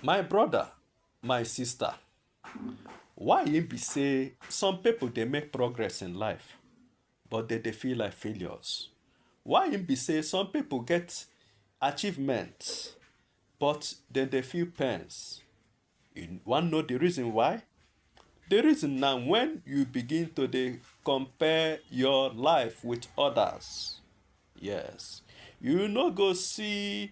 My brother, my sister, why e be say some people dey make progress in life but they dey feel like failures? Why e be say some people get achievements but they dey feel pains? You wan know the reason why? The reason na when you begin to dey compare your life with others. Yes, you no go see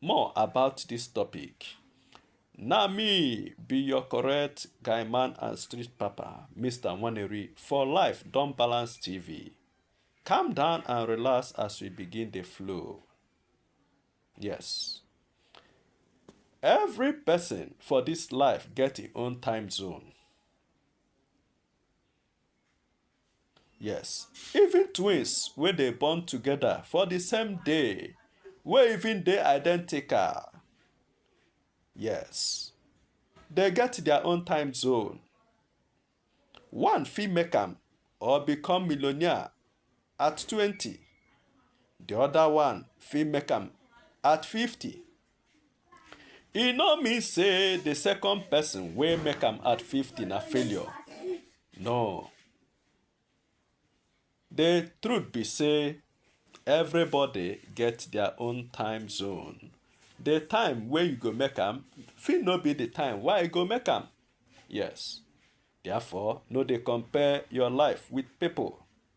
More about this topic. Na me be your correct guy man and street papa, Mr. Waneri for life Don Balance TV. Calm down and relax as we begin the flow. Yes. Every person for this life get his own time zone. Yes, even twins wey dey born together for the same day, wey even dey identical. Yes, they get their own time zone. One fit make am or become millionaire at 20, the other one fit make am at 50. E no mean say the second person wey make am at 50 na failure. No. The truth be say everybody get their own time zone. The time wey you go make am fit no be the time why you go make am. Yes. Therefore, no dey compare your life with people.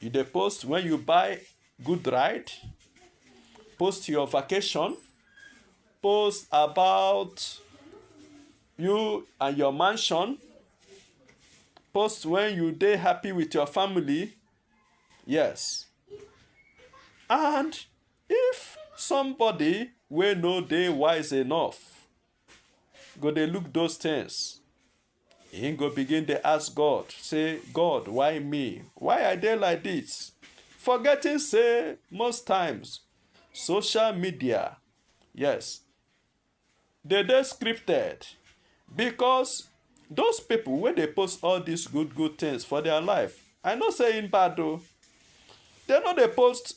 You dey post when you buy good ride, post your vacation, post about you and your mansion, post when you dey happy with your family. Yes. And if somebody wey no dey wise enough go dey look those things, He go begin dey ask God, say, God, why me? Why I dey like this? Forgetting say most times social media, yes, they dey scripted because those people wey dey post all these good good things for their life, I know say im bad o. They no dey post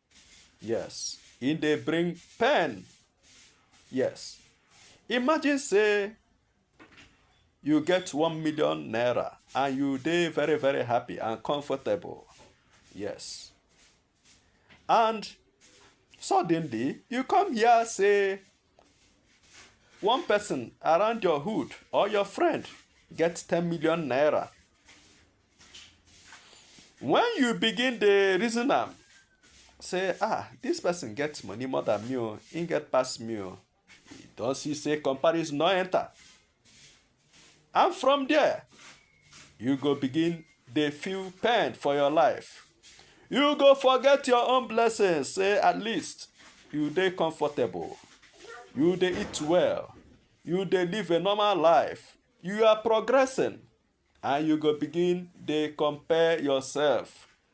Yes. He dey bring pen. Yes. Imagine say you get one million naira and you dey very very happy and comfortable. Yes. And suddenly you come here say One person around your hood or your friend gets 10 million naira. When you begin the reason am, say, ah, this person gets money more than me, oh, he get past me, oh. You don't see say comparison no enter. And from there, you go begin dey feel pain for your life. You go forget your own blessings, say at least you dey comfortable, you dey eat well, you dey live a normal life, you are progressing, and you go begin dey compare yourself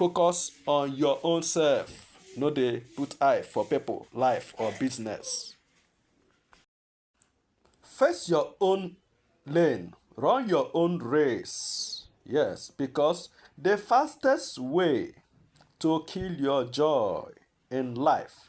focus on your own self no dey put eye for people life or business face your own lane run your own race yes because the fastest way to kill your joy in life